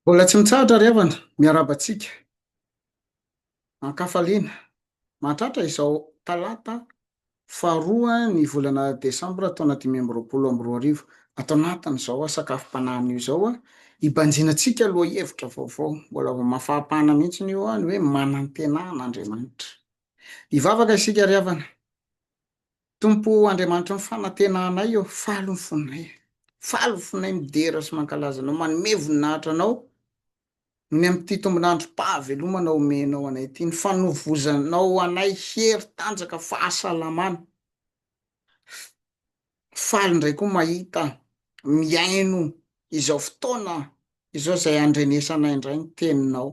Mbola tsy mitsahatra ry havana, miarahaba antsika an-kafaliana mahatratra izao talata faharoa ny volana desambra taona dimy amby roapolo amby roa arivo, ato anatin'izao sakafom-panahiny io izao hibanjinantsika lohahevitra vaovao, mbola vao mafampana mihitsy io ny hoe manantena an'Andriamanitra. Hivavaka isika ry havana. Tompo o, Andriamanitry ny fanantenanay ô, faly ny fonay e. Faly ny fonay midera sy mankalaza Anao, manome voninahitra Anao noho ny amin'ity tombon'androm-pahavelomana omenao anay ity, ny fanovozanao anay hery, tanjaka, fahasalamana. Faly indray koa mahita, mihaino izao fotoana izao izay andrenesanay indray ny Teninao.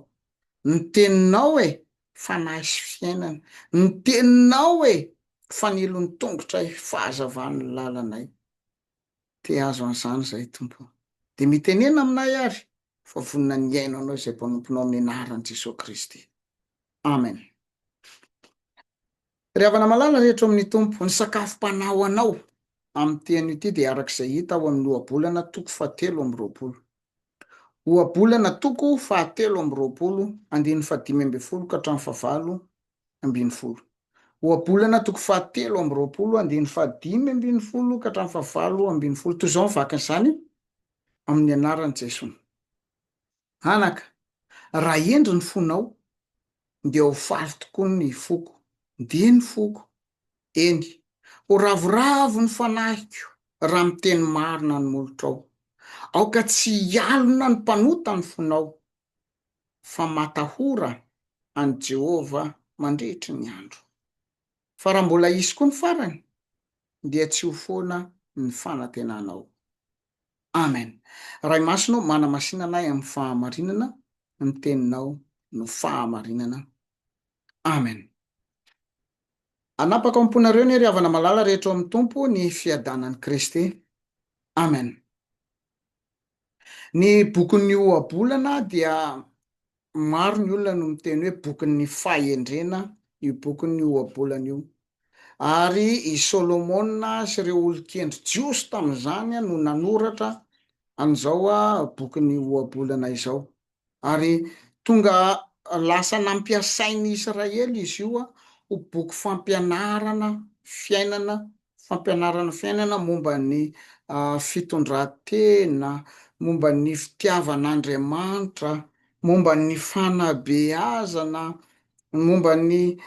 Ny Teninao e, Fanahy sy fiainana. Ny teninao e! Fanilon'ny tongotray, fahazavan'ny lalanay. Te hahazo an'izany izahay Tompo o. Dia mitenena aminay ary fa vonona ny hihaino Anao izay mpanomponao amin'ny anaran'i Jesoa Kristy. Amen. Ry havana malala rehetra ao amin'ny Tompo, ny sakafom-panahy ho anao amin'ity anio ity dia araka izay hita ao amin'ny Ohabolana toko fahatelo amby roapolo. Ohabolana toko fahatelo amby roapolo, andininy fahadimy ambin'ny folo ka hatramin'ny fahavalo ambin'ny folo. Ohabolana toko fahatelo amby roapolo, andininy fahadimy ambin'ny folo ka hatramin'ny fahavalo ambin'ny folo. Toy izao ny vakin'izany, Amin'ny anaran'i Jeso. Anaka, raha hendry ny fonao, dia ho faly tokoa ny foko. Dia ny foko, Eny, ho ravoravo ny fanahiko raha miteny marina ny molotrao. Aoka tsy hialona ny mpanota ny fonao, fa matahora an'i Jehovah mandritry ny andro. Fa raha mbola hisy koa ny farany, dia tsy ho foana ny fanantenanao. Amen. Ray Masina ô, manamasinana ahy amin'ny fahamarinana, ny Teninao no fahamarinana. Amen. Hanapaka ao am-ponareo anie ry havana malala rehetra ao amin'ny Tompo ny fiadanan'i Kristy. Amen. Ny bokin'ny ohabolana dia maro ny olona no miteny hoe bokin'ny fahendrena io bokin'ny ohabolana io. Ary i Solomona sy ireo olon-kendry jiosy tamin'izany no nanoratra an'izao bokin'ny ohabolana izao. Ary tonga lasa nampiasain'ny Israely izy io ho boky fampianarana fiainana, fampianarana fiainana momba ny fitondran-tena, momba ny fitiavan'Andriamanitra, momba ny fanabeazana, momba ny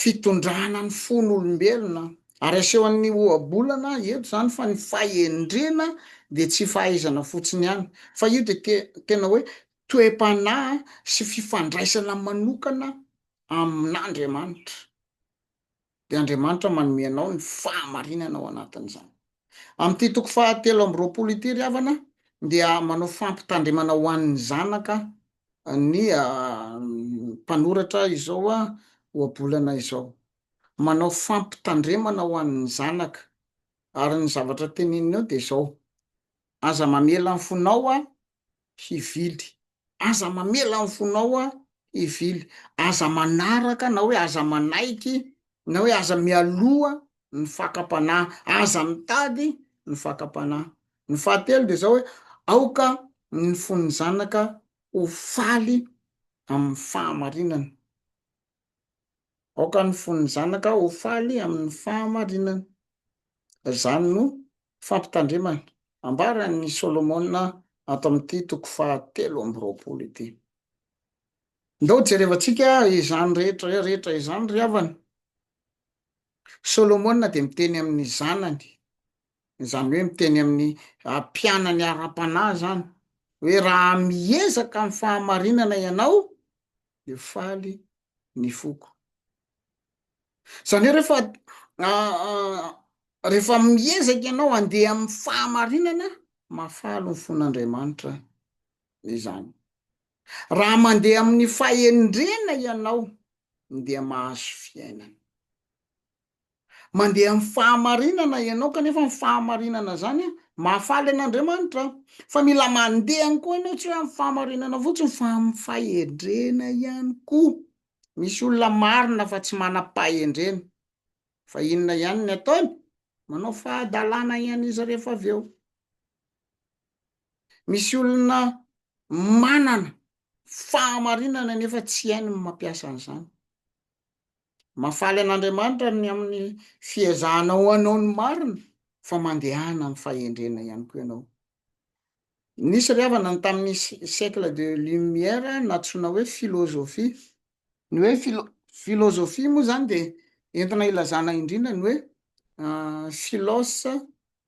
fitondrana ny fon'olombelona, ary asehon'ny ohabolana eto izany fa ny fahendrena dia tsy fahaizana fotsiny ihany, fa io dia tena hoe toe-panahy sy fifandraisana manokana amin'Andriamanitra. dia Andriamanitra manome anao ny fahamarinana ao anatin'izany. Amin'ity toko fahatelo amby roapolo ity, ry havana, dia manao fampitandremana ho an'ny zanaka ny mpanoratra izao ohabolana izao. Manao fampitandremana ho an'ny zanaka, ary ny zavatra teneniny eo dia izao, Aza mamela ny fonao hivily. Aza mamela ny fonao hivily. Aza manaraka na hoe aza manaiky na hoe aza mialoha ny fakam-panahy. Aza mitady ny fakam-panahy. Ny fahatelo dia izao hoe, aoka ny fon'ny zanaka ho faly amin'ny fahamarinana. Aoka ny fon'ny zanaka ho faly amin'ny fahamarinana. Izany no fampitandremana ambaran'i Solomona ato amin'ity toko fahatelo amby roapolo ity. Ndao jerevantsika izany rehetra rehetra izany ry havana. Solomona dia miteny amin'ny zanany izany hoe miteny amin'ny mpianany ara-panahy izany hoe raha miezaka amin'ny fahamarinana ianao dia faly ny foko izany hoe rehefa rehefa miezaka ianao andeha amin'ny fahamarinana mahafaly ny fon'andriamanitra izany raha mandeha amin'ny fahendrena ianao dia mahazo fiainana Mandeha amin'ny fahamarinana ianao kanefa ny fahamarinana izany mahafaly an'Andriamanitra. Fa mila mandeha ihany koa ianao, tsy hoe amin'ny fahamarinana fotsiny fa amin'ny fahendrena ihany koa. Misy olona marina fa tsy manam-pahendrena. Fa inona ihany ny ataony? Manao fahadalana ihany izy rehefa avy eo. Misy olona manana fahamarinana nefa tsy hainy ny mampiasa an'izany. Mahafaly an'Andriamanitra ny amin'ny fiezahanao hanao ny marina fa mandehana amin'ny fahendrena ihany koa ianao. Nisy ry havana ny tamin'ny siècle de lumière nantsoina hoe philosophie. Ny hoe philosophie moa izany dia entina ilazana indrindra ny hoe philos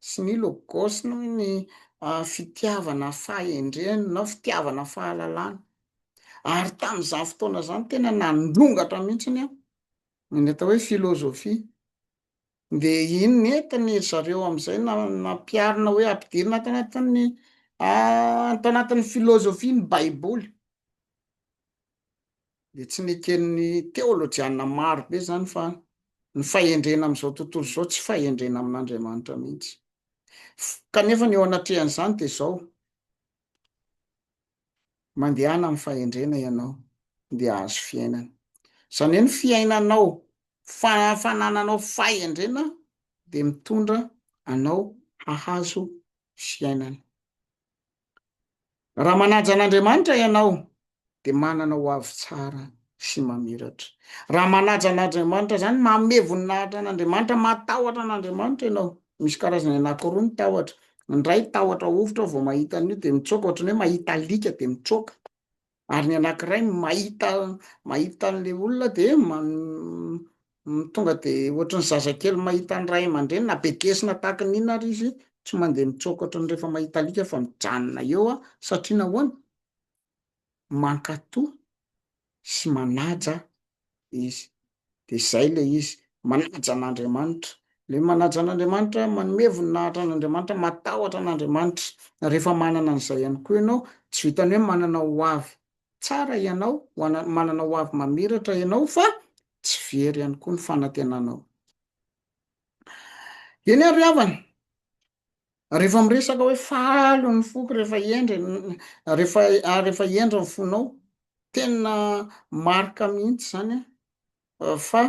sy ny logos noho ny fitiavana fahendrena na fitiavana fahalalana ary tamin'izany fotoana izany tena nandrongatra mihitsiny an ny atao hoe filozofia dia iny nentiny ry zareo amin'izay nampiarina hoe ampidirina ato anatin'ny ato anatin'ny filozofia ny baiboly dia tsy neken'ny teolojiana maro be izany fa ny fahendrena amin'izao tontolo izao tsy fahendrena amin'Andriamanitra mihitsy. Kanefa ny eo anatrehan'izany dia izao, mandehana amin'ny fahendrena ianao dia ahazo fiainana. Izany hoe ny fiainanao, fanananao fahendrena dia mitondra anao hahazo fiainana. Raha manaja an'Andriamanitra ianao, dia manana ho avy tsara sy mamiratra. Raha manaja an'Andriamanitra, izany manome voninahitra an'Andriamanitra, matahotra an'Andriamanitra ianao. Misy karazany anankiroa ny tahotra. Ny iray tahotra hovitra aho vao mahita an'io dia mitsoaka, ohatran'ny hoe mahita alika dia mitsoaka. ary ny anankiray mahita mahita an'le olona de tonga de ohatry ny zazakely mahita ny ray aman-dreny na be kesina tahaka ny inona ary izy tsy mandeha mitsoaka ohatry ny rehefa mahita alika fa mijanona eo aho satria nahoana mankatò sy manaja izy dia izay ilay izy, manaja an'Andriamanitra. Ilay manaja an'Andriamanitra, manome voninahitra an'Andriamanitra, matahotra an'Andriamanitra. Rehefa manana an'izay ihany koa ianao, tsy vitan'ny hoe manana ho avy tsara ianao, manana ho avy mamiratra ianao fa tsy very ihany koa ny fanantenanao. Eny ary havana. Rehefa miresaka hoe faly ny foko rehefa hendry rehefa ah, rehefa hendry ny fonao, tena marika mihitsy zany ah, fa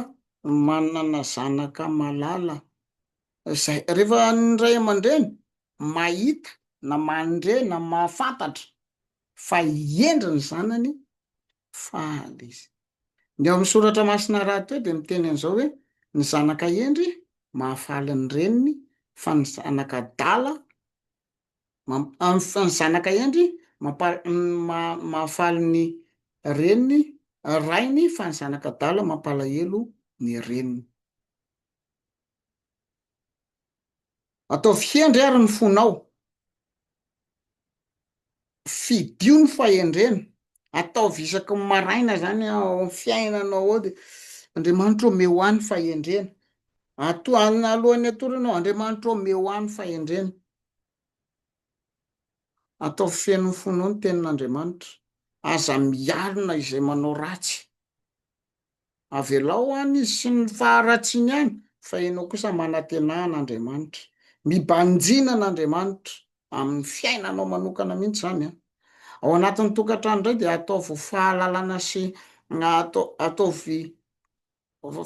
manana zanaka malala zay. Rehefa ny ray aman-dreny mahita na mandre na mahafantatra fa hendry ny zanany Faly izy. Ny ao amin'ny Soratra Masina rahateo dia miteny an'izao hoe, Ny zanaka hendry mahafaly ny reniny, fa ny zanaka adala, ny zanaka hendry mahafaly ny reniny, rainy, fa ny zanaka adala mampalahelo ny reniny. Ataovy hendry ary ny fonao. Fidio ny fahendrena. Ataovy isaky ny maraina izany ao amin'ny fiainanao ao dia, Andriamanitra ô, omeo ahy ny fahendrena. Ato, alohan'ny hatoranao, Andriamanitra ô, omeo ahy ny fahendrena. Ataovy feno ny fonao ny tenin'Andriamanitra. Aza mialona izay manao ratsy. Avelao any izy sy ny faharatsiny any fa enao kosa manatena an Andriamanitra. Mibanjina an Andriamanitra aminy fiainanao manokana mihitsy izany an. Ao anatiny tokantrano indray dia ataovy fahalalana sy ataovy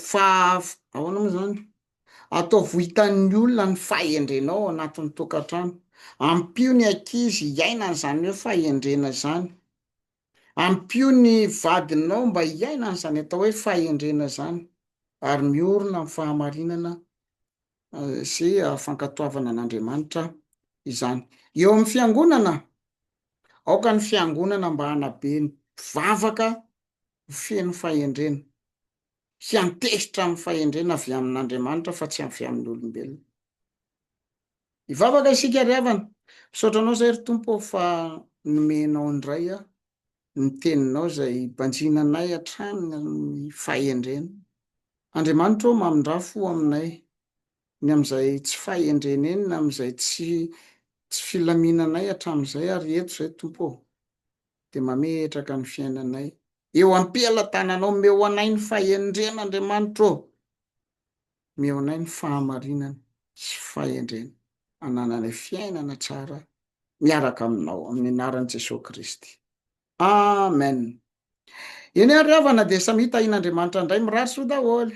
fa ahoana moa izany? Ataovy ho hitan'ny olona ny fahendrenao ao anatiny tokantrano. Ampio ny ankizy hiaina an'izany hoe fahendrena izany. Ampio ny vadinao mba hiaina an'izany atao hoe fahendrena izany, ary miorina amin'ny fahamarinana sy fankatoavana an'Andriamanitra izany. Eo amin'ny fiangonana, aoka ny fiangonana mba hanabe ny mpivavaka ho feno fahendrena, hiantehitra amin'ny fahendrena avy amin'Andriamanitra fa tsy avy amin'ny olombelona. Hivavaka isika ry havana. Misaotra anao izay ry Tompo ô fa nomenao indray aho ny teninao izay banjina anay hatrany amin'ny fahendrena. Andriamanitra ô mamindrafo ho aminay ny amin'izay tsy fahendreneny na amin'izay tsy tsy filaminanay hatramin'izay ary eto izay Tompo ô dia mametraka ny fiainanay eo ampelatananao omeo anay ny fahendrena Andriamanitra ô. Omeo anay ny fahamarinana sy fahendrena hanananay fiainana tsara miaraka aminao amin'ny anaran'i Jesoa Kristy. Amen! Eny ary havana dia samia tahin'Andriamanitra indray mirary soa daholo.